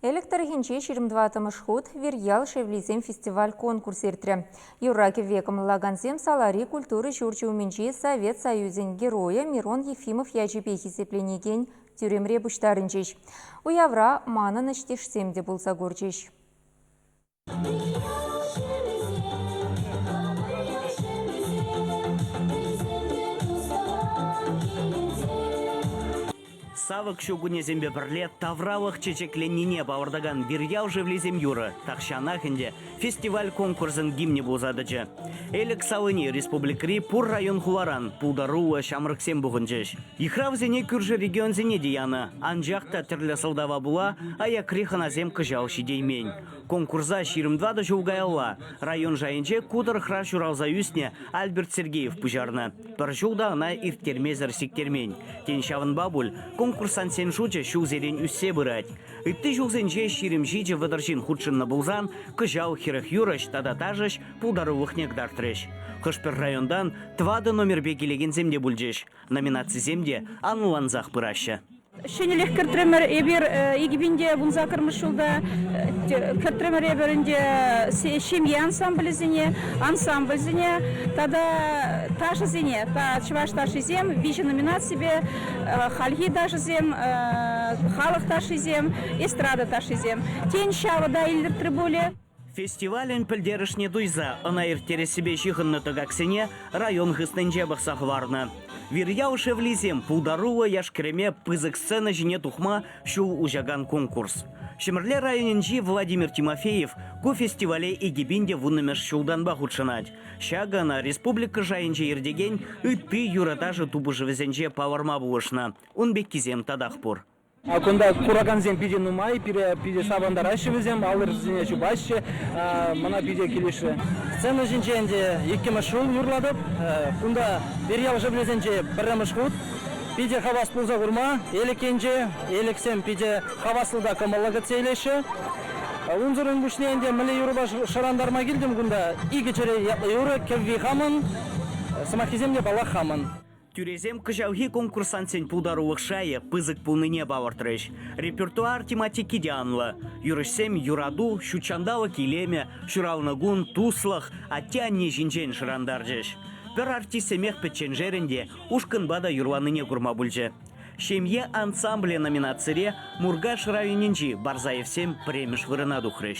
Элӗк тӑрӑхӗнче ҫирӗм тӑваттӑмӗш хут Вирьял шевлисем фестиваль-конкурс иртрӗ. Юрра-кӗвве кӑмӑллакансем салари культура ҫурчӗ умӗнчи Совет Союзӗн Геройӗ Мирон Ефимов ячӗпе хисепленекен тӳремре пуҫтарӑнчӗҫ. Уявра манӑн ӗҫтешсем те пулса курчӗҫ. Савӑк ҫу кунӗсемпе пӗрле тавралӑх чечекленнине палӑртакан Вирьял шевлисем юрӑ тахҫанах ӗнтӗ фестиваль-конкурсӑн гимнӗ пулса тӑчӗ. Элӗк салини республикӑри пур район-хуларан пултаруллӑ ҫамрӑксем пухӑнчӗҫ. Йыхравсене кӳршӗ регионсене те янӑ, анчах та тӗрлӗ сӑлтава пула аякри хӑнасем кӑҫал ҫитеймен. Конкурса ҫирӗм тӑватӑ ҫул каялла район шайӗнче ку тӑрӑхра ҫуралса ӳснӗ Альберт Сергеев пуҫарнӑ. Пӗр ҫул та ӑна ирттермесӗр сиктермен. Тен, ҫавӑнпа пуль конкурсантсен шучӗ ҫулсерен ӳссе пырать. Ытти ҫулсенче ҫирӗм ҫичӗ вӑтӑр ҫын хутшӑннӑ пулсан, кӑҫал хӗрӗх юрӑҫ тата ташӑҫ пултарулӑхне кӑтартрӗҫ. Хӑш-пӗр районтан тӑватӑ номерпе килекенсем те пулчӗҫ. Номинацисем те анлансах пыраҫҫӗ. Ҫӗнӗлӗх кӗртрӗмӗр. Эпир икӗ пинте вун саккӑрмӗш ҫулта кӗртрӗмӗр эпир ӗнтӗ ҫемье ансамблӗсене, ансамбльсене тата ташӑсене. Чӑваш ташшисем виҫӗ номинаципе хальхи ташӑсем, халӑх ташшисем, эстрада ташшисем. Тен, ҫавӑ та илӗртрӗ пулӗ. Фестивалӗн пӗлтерӗшне туйса ӑна ирттерессипе ҫыхӑннӑ тӑкаксене район хыснинче пӑхса хӑварнӑ. Вирьял шевлисем пултаруллӑ яш-кӗрӗме пысӑк сцена ҫине тухма ҫул уҫакан конкурс. Ҫӗмӗрле районӗнчи Владимир Тимофеев ку фестивале икӗ пин те вуннӑмӗш ҫултанпа хутшӑнать. Ҫакӑ ӑна республика шайӗнче иртекен ытти юрӑ-ташӑ тупӑшӑвӗсенче палӑрма пулӑшнӑ. Ун пеккисем татах пур. Кунта куракансем питӗ нумай, пире питӗ савӑнтараҫҫӗ вӗсем, аллӑрисене чупаҫҫӗ, мана питӗ килӗшрӗ. Сцена ҫинче ӗнтӗ иккӗмӗш ҫул юрлатӑп. Кунта Верьял шӑприсенче пӗрремӗш хут питӗ хавас пулса курма Элӗкенче. Элӗксем питӗ хаваслӑ та кӑмӑллӑ кӗтсе илеҫҫӗ. Унсӑрӑн пуҫне ӗнтӗ мӗнле юрӑпа шӑрантарма килтӗм кунта. Икӗ чӗре ятлӑ юрӑ, кӗвви хамӑн, сӑмаххисем те паллах хамӑн. Тӳресем кӑҫалхи конкурсантсен пултарулӑх шайӗ пысӑк пулнине палӑртрӗҫ. Репертуар тематики те анлӑ. Юрӑҫсем юрату, ҫут ҫанталӑк илемӗ, ҫуралнӑ кун, туслӑх, атте-анне ҫинчен шӑрантарчӗҫ. Пӗр артистсемех пӗчченшерӗн те ушкӑнпа та юрланине курма пулчӗ. «Ҫемье ансамблӗ» номинацире Муркаш районӗнчи Барзаевсем пӗрремӗш вырӑна тухрӗҫ.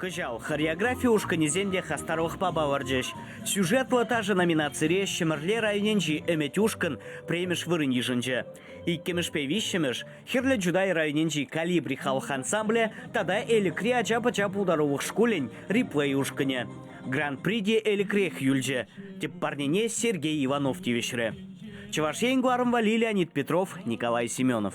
Кӑҫал хореографи ушкӑнӗсем те хастарлӑхпа палӑрчӗҫ. «Сюжетлӑ ташӑ» номинацире Ҫӗмӗрле районӗнчи Ӗмӗт ушкӑн пӗрремӗш вырӑн йышӑнчӗ. Иккӗмӗшпе виҫҫӗмӗш Хӗрлӗ Чутай районӗнчи Калибри халӑх ансамблӗ тата Элӗкри ача-пӑча пултарулӑх шкулӗн Реплей ушкӑнӗ Гран-при те Элӗкрех юлчӗ. Тӗп парнене Сергей Иванов тивӗҫрӗ. Чӑваш Ен кӑларӑмпа Леонид Петров, Николай Семенов.